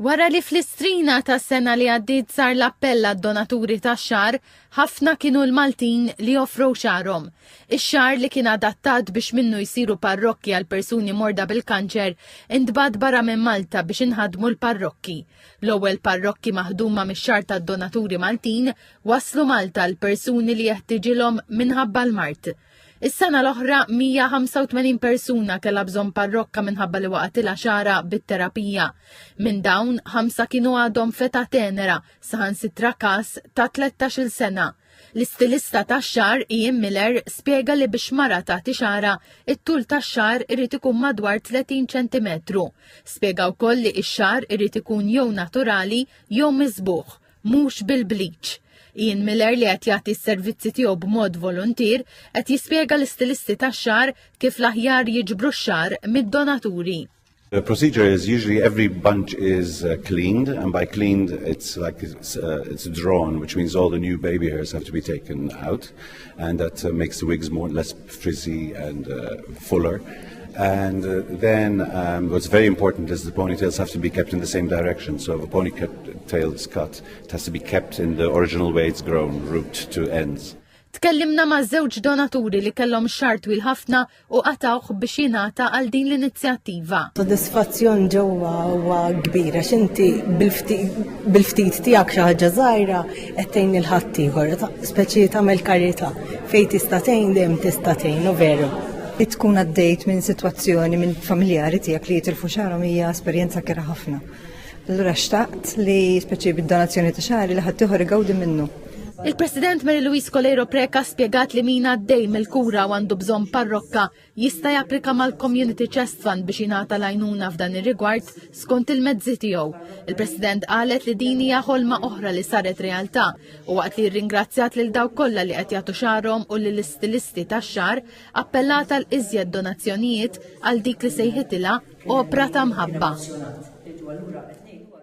Wara li fl-Istrina tas-sena li għaddiet sar l-appell għad-donaturi tax-xagħar, ħafna kienu l-Maltin li offrow xagħarhom. Ix-xagħar li kien adattat biex minnu jsiru parrokki għal persuni morda bil-kanċer intbagħat barra minn Malta biex inħaddmu l-parrokki. L-ewwel parrokki maħduma mix-xagħar tad-donaturi Maltin waslu Malta għall-persuni li jeħtiġilhom minħabba l-mard. Is-sena l-oħra 185 persuna kellha bżonn parrokka minħabba li waqatilha xara bit-terapija. Minn dawn, ħamsa kienu għadhom feta tenera, saħansitra każ ta' 13-il sena. L-istilista tax-xar Ian Miller spjega li biex mara tagħti xara, it-tul tax-xar irid ikun madwar 30 ċentimetru. Spjega wkoll li x-xar irid ikun jew naturali jew miżbuħ mhux bil-bleach. Ian Miller li qed jagħti s-servizzi tiegħu b'mod voluntier qed jispjega l-istilisti tax-xagħar kif l-aħjar jiġbru x-xagħar mid-donaturi. The procedure is usually every bunch is uh, cleaned, and by cleaned, it's like it's, uh, it's drawn, which means all the new baby hairs have to be taken out, and that uh, makes the wigs more less Frizzy and uh, Fuller. And uh, then um, what's very important is the ponytails have to be kept in the same direction. So if a ponytail is cut, it has to be kept in the original way it's grown, root to ends. Tkellimna ma' żewġ donaturi li kellhom xar twil ħafna u qatawh biex jingħata għal din l-inizjattiva. Sodisfazzjon ġewwa huwa kbira x'inti bil-ftit tiegħek xi ħaġa żgħira qed tgħin lil ħaddieħor, speċi tagħmel karità fejn tista' tgħin dejjem tista' tgħin u veru. Li tkun għaddejt minn sitwazzjoni minn familjari tiegħek li jitilfu xarhom hija esperjenza kera ħafna. Allura xtaqt li speċi bid-donazzjoni ta' xari li ħaddieħor igawdi minnu. Il-President Mary Louise Coleiro Preca spjegat li min għaddej mill-kura għandu bżonn parrokka jista' japplika mal-Community Chest Fund biex jingħata l-għajnuna f'dan ir-rigward skont il-mezzi tiegħu. Il-President qalet li din hija ħolma oħra li saret realtà u waqt li rringrazzjat lil dawk kollha li qed jagħtu xagħarhom u lill-istilisti tax-xagħar, appellat għal iżjed donazzjonijiet għal dik li sejħitilha opra ta' mħabba.